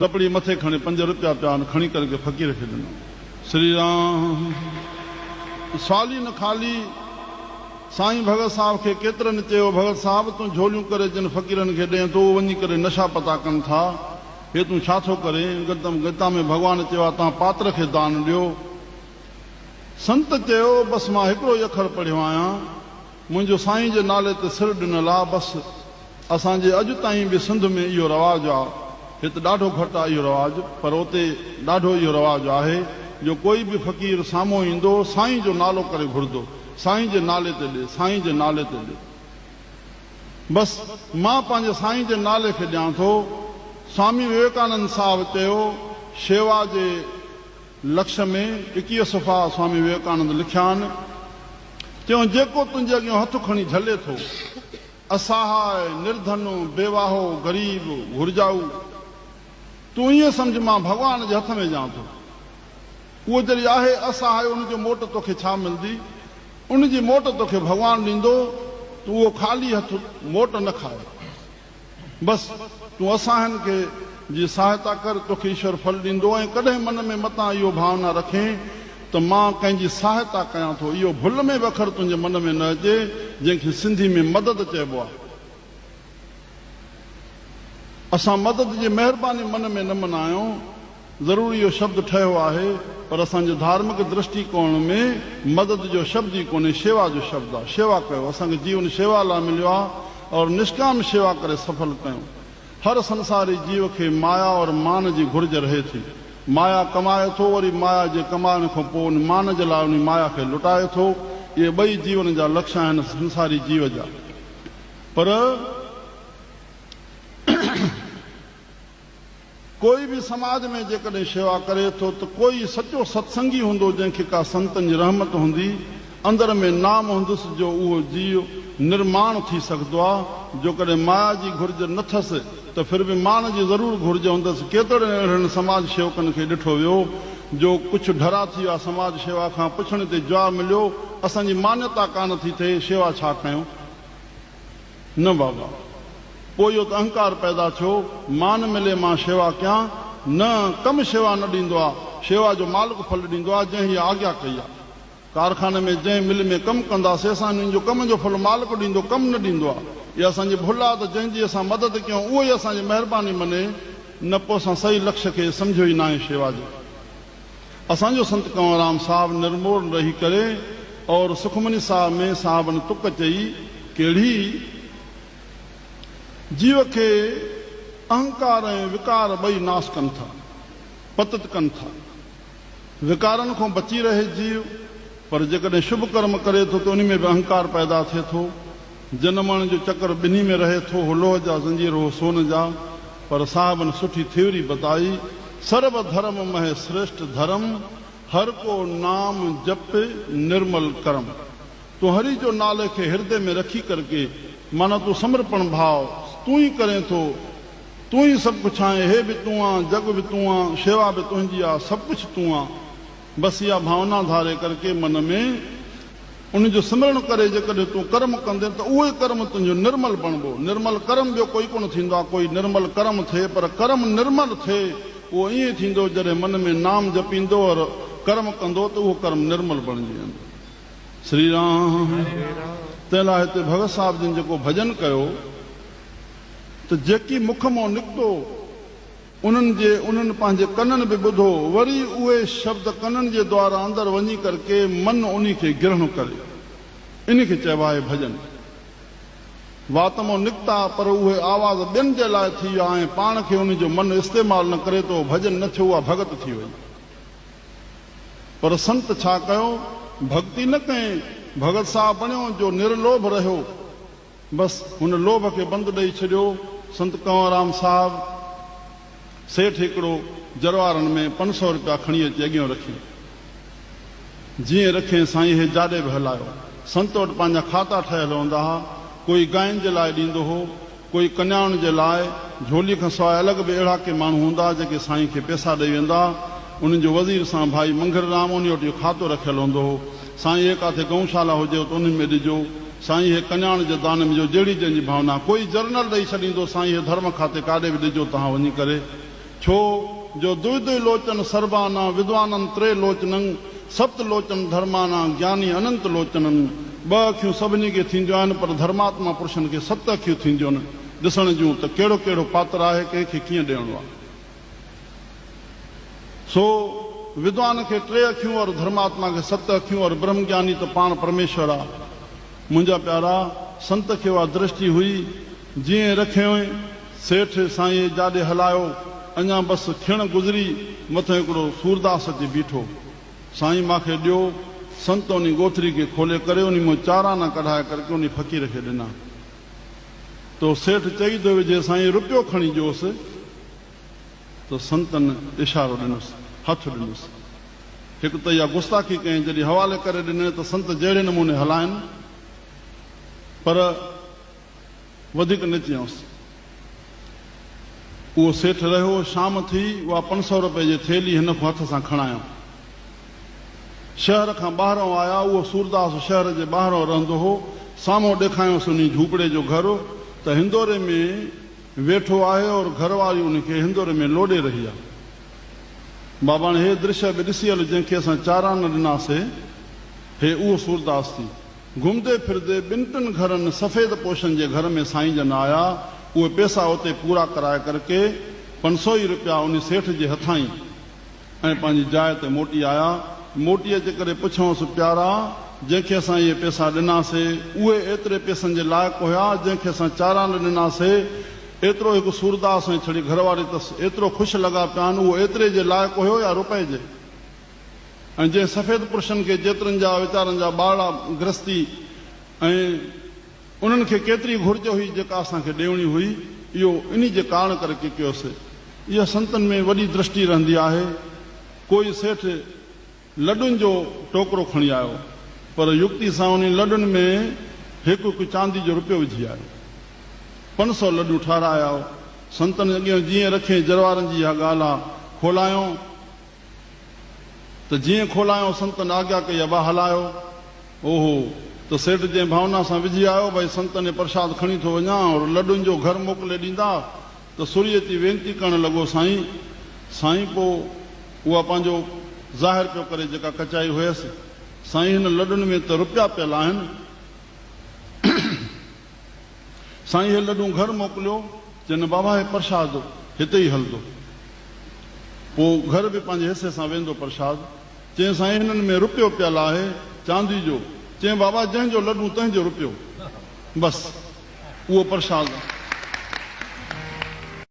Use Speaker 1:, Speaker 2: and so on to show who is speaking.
Speaker 1: ڪپڙي مٿي کڻي پنج رپيا پيا آهن کڻي ڪري ڪنهن فقير کي ڏنا. سري رام سالي نه خالي سائين ڀڳت صاحب کي ڪيترن چيو ڀڳت صاحب تون جهوليون ڪري جن فقيرن کي ڏين ٿو اهي وڃي ڪري نشا پتا ڪن ٿا هي تون ڇا ٿو ڪرين گتم گيتا ۾ ڀڳوان چيو آهي توهان پاتر کي دان ڏيو سنت چيو بس مان هڪڙو ئي اکر پڙهيو آهيان. منهنجو سائين جي نالي تي سر ڏنل آ بس اسان جي اڄ تائين به سنڌ ۾ اهو رواج آ هت ڏاڍو گهٽ آ اهو رواج پر اتي ڏاڍو اهو رواج آهي جو ڪوئي به فقير سامهون ايندو سائين جو نالو ڪري گهردو سائين جي نالي تي ڏي سائين جي نالي تي ڏي بس مان پنهنجي سائين جي نالي کي ڏيان ٿو سوامي وويڪانند صاحب چيو شيوا جي لکس ۾ ايڪيهه صفحا سوامي وويڪانند لکيا آهن. چيو، جيڪو تنهنجي اڳيان هٿ کڻي جهلي ٿو، اساهاء، نردن، بيواهو، غريب، گهرجائو، تون ائين سمجهه مان ڀڳوان جي هٿ ۾ ڏيان ٿو. اهو جڏهن آهي اساهاء ان جي موٽ توکي ڇا ملندي؟ ان جي موٽ توکي ڀڳوان ڏيندو، تون اهو خالي هٿ موٽ نه کاء. بس تون اساهن کي جي سهائتا ڪر، توکي ايشور ڦل ڏيندو ۽ ڪڏهن من ۾ متان اهو ڀاونا رکين ته مان ڪنهن جي سهائتا ڪيان ٿو، اهو ڀل ۾ به اکر تنهنجي من ۾ نه اچي، جنهن کي سنڌي ۾ مدد چئبو آهي. اسان مدد جي مهرباني من ۾ نه منايون. ضرور اهو شبد ٺهيو آهي پر اسان جي ڌارمڪ درشٽي ڪوڻ ۾ مدد جو شبد ئي ڪونهي شيوا جو شبد آهي شيوا ڪيو اسان کي جيون شيوا لاء مليو آهي اور نشڪام شيوا ڪري سڦل ڪيون هر سنساري جيو کي مايا اور مان جي گهرج رهي ٿي مايا ڪمائي ٿو وري مايا جي ڪمائڻ کان پوء ان مان جي لاء انهي مايا کي لٽائي ٿو اهي ٻئي جيون جا لڪش آهن سنساري جيو جا پر ڪوئي به سماج ۾ جيڪڏهن شيوا ڪري ٿو ته ڪوئي سچو ستسنگي هوندو جنهن کي ڪا سنتن جي رحمت هوندي اندر ۾ نام هوندس جو اهو جيء نرماڻ ٿي سگهدو آ جوڪڏهن مايا جي گهرج نه ٿس ته ڦر به ماڻ جي ضرور گهرج هوندس ڪيترڙن اهڙن سماج شيوڪن کي ڏٺو ويو جو ڪڇ ڍرا ٿي ويا سماج شيوا کان پڇڻ تي جواب مليو اسان جي مانيتا ڪانه ٿي ٿئي شيوا ڇا ڪيون. نه بابا! پوء اهو ته اهنڪار پيدا ٿيو، مان ملي مان شيوا ڪيان، نه، ڪم شيوا نه ڏيندو آ، شيوا جو مالڪ ڦل ڏيندو آ، جنهن هيء آگيا ڪئي آ. ڪارخاني ۾ جنهن مل ۾ ڪم ڪندا سي اسان انهن جو ڪم جو ڦل مالڪ ڏيندو، ڪم نه ڏيندو آ. اها اسان جي ڀل آ ته جنهن جي اسان مدد ڪيون اهو ئي اسان جي مهرباني مني، نه پوء اسان سئي لڪش کي سمجهيو ئي ناهي شيوا جي اسان جو سنت ڪنوررام صاحب نرمور نه رهي ڪري اور سخمني صاحب ۾ صاحبن تڪ چئي ڪهڙي جيو کي اهنڪار ۽ وڪار ٻئي ناس ڪن ٿا پتت ڪن ٿا وڪارن کون بچي رهي جيو پر جيڪڏهن شڀ ڪرم ڪري ٿو ته انهي ۾ به اهنڪار پيدا ٿئي ٿو جن ماڻهن جو چڪر ٻنهي ۾ رهي ٿو هو لوهه جا زنجير هو سون جا پر صاحبن سٺي ٿيوري بتائي سرب ڌرم مهي سريشٽ ڌرم هر ڪو نام جپ نرمل ڪرم تون هري جو نالي کي هردي ۾ رکي ڪر ڪي معنيٰ تون سمرپڻ ڀاو تون ئي ڪرين ٿو تون ئي سڀ ڪڇ آهين هي به تون آن جڳ به تون آن شيوا به تنهنجي آ سڀ ڪڇ تون آ. بس اها ڀاونا ڌاري ڪر ڪي من ۾، ان جو سمرڻ ڪري جيڪڏهن تون ڪرم ڪندين ته اهو ئي ڪرم تنهنجو نرمل بڻبو. نرمل ڪرم ٻيو ڪوئي ڪونه ٿيندو آهي، ڪوئي نرمل ڪرم ٿئي پر ڪرم نرمل ٿئي اهو ائين ٿيندو جڏهن من ۾ نام جپيندو اور ڪرم ڪندو ته اهو ڪرم نرمل بڻجي ويندو. سري رام. تنهن لاء هتي ڀڳت صاحب جن جيڪو ڀڄن ڪيو ته جيڪي مک مون نڪتو انهن جي انهن پنهنجي ڪنن به ٻڌو، وري اهي شبد ڪنن جي دوارا اندر وڃي ڪر ڪي من انهي کي گرهڻ ڪري. انهي کي چئبو آهي ڀڄن. واتمو نڪتا پر اهي آواز ٻين جي لاء ٿي ويا ۽ پاڻ کي انهي جو من استعمال نه ڪري ته اهو ڀڄن نه ٿيو اها ڀڳت ٿي وئي. پر سنت ڇا ڪيو؟ ڀڳتي نه ڪئين، ڀڳت سا بڻيو جو نرلوڀ رهيو. بس هن لوڀ کي بند ڏئي ڇڏيو. سنت ڪنوررام صاحب سيٺ هڪڙو جروارن ۾ پنج سؤ رپيا کڻي اچي اڳيئون رکي. جيئن رکين سائين هي جاڏي به هلايو. سنت وٽ پنهنجا کاتا ٺهيل هوندا ها. ڪوئي گاين جي لاء ڏيندو هو. ڪوئي ڪنيائن جي لاء. جهولي کان سواء الڳ به اهڙا ڪي ماڻهو هوندا ها جيڪي سائين کي پيسا ڏئي ويندا ها. انهن جو وزير سان ڀائي منگهررام انهي وٽ اهو کاتو رکيل هوندو هو. سائين هي ڪاٿي گئون شالا هجيو ته انهن ۾ ڏجو سائين هي ڪنياڻ جي دانه مجو جهڙي جنهنجي ڀاونا ڪوئي جرنل ڏئي ڇڏيندو سائين هي ڌرم کاتي ڪاڏي به ڏجو تهان وڃي ڪري ڇو جو دؤ دؤ لوچن سربانان ودوانن تري لوچنن سپت لوچن ڌرمانان گياني اننت لوچنن ٻه اکيون سڀني کي ٿينديون آهن پر ڌرماتما پرشن کي ست اکيون ٿينديون ڏسڻ جون ته ڪهڙو ڪهڙو پاتر آهي ڪنهن کي ڪيئن ڏيڻو آهي. سو ودوان کي ٽي اکيون اور ڌرماتما کي ست اکيون اور برهم گياني ته پاڻ پرميشور آ. منهنجا پيارا، سنت کي اها درشٽي هئي، جيئن رکيوئين، سيٺ سائينء جاڏي هلايو، اڃا بس کڻ گذري، مٿن هڪڙو سورداس اچي بيٺو. سائين ماکي ڏيو. سنت انهي ڳوٿري کي کولي ڪري انهي مون چار آنا ڪڍائي ڪرڪي انهي فقير کي ڏنا. تو سيٺ چئي ٿو وجهي سائين رپيو کڻي ڏيوس ته سنتن اشارو ڏنس هٿ ڏنس هڪ ته اها گستاخي ڪئين جڏهن حوالي ڪري ڏنئين ته سنت جهڙي نموني هلاين پر وڌيڪ نه چيائونس اهو سيٺ رهيو شام ٿي اها پنج سئو رپئي جي ٿيلهي هن کان هٿ سان کڻايم. شهر کان ٻاهرئون آيا. اهو سورداس شهر جي ٻاهرئون رهندو هو. سامهون ڏيکايائونس انهي جهوپڙي جو گهر ته هندوري ۾ ويٺو آهي اور گهر واري ان کي هندوري ۾ لوڏي رهي آهي. باباڻي هي درشيه به ڏسي هل جنهن کي اسان چارا نه ڏناسي هي اهو سورداس ٿي. گهمدي ڦردي ٻن ٽن گهرن سفيد پوشن جي گهر ۾ سائين جن آيا. اهي پيسا اتي پورا ڪرائي ڪرڪي پنسوئي روپيا انهي سيٺ جي هٿائين. ۽ پنهنجي جاء تي موٽي آيا. موٽي اچي ڪري پڇيائونس، پيارا! جنهن کي اسان اهي پيسا ڏنا سي، اهي ايتري پيسن جي لائق هيا، جنهن کي اسان چارانڊ ڏنا سي؟ ايترو هڪ سورداس ۽ ڇڙي گهرواري تس ايترو خوش لڳا پيا آهن، اهو ايتري جي لائق هيو يا روپئي جي؟ ۽ جنهن سفيد پرشن کي جيترن جا ويچارن جا ٻارڙا گرهستي ۽. انهن کي ڪيتري گهرج هئي جيڪا اسان کي ڏيوڻي هئي، اهو انهي جي ڪارڻ ڪري ڪي ڪيوسي. اها سنتن ۾ وڏي درشٽي رهندي آهي. ڪوئي سيٺ لڏن جو ٽوڪرو کڻي آيو، پر يڪتي سان انهي لڏن ۾ هڪ هڪ چاندي جو رپيو وجهي آيو. پنج سؤ لڏون ٺهرائي آيو. سنتن اڳيئن جيئن رکين جروارن جي اها ڳالهه آ، کولائيون. ته جيئن کولائيو سنتن آگيا ڪئي ابا هلايو اوهو ته سيٽ جنهن ڀاونا سان وجهي آيو ڀئي سنتن ۽ پرشاد کڻي ٿو وڃان اور لڏن جو گهر موڪلي ڏيندا ته سوري اچي وينتي ڪرڻ لڳو سائين سائين پو اها پنهنجو ظاهر پيو ڪري جيڪا ڪچائي هيس سائين هن لڏن ۾ ته رپيا پيل آهن. سائين هي لڏون گهر موڪليو، چينن بابا هي پرشاد هتي ئي هلندو. پوء گهر به پنهنجي حصي سان ويندو پرشاد. چين سائين هنن ۾ رپيو پيل آهي، چاندي جو. چين بابا جنهن جو لڏون تنهن جو رپيو. بس اهو پرشاد.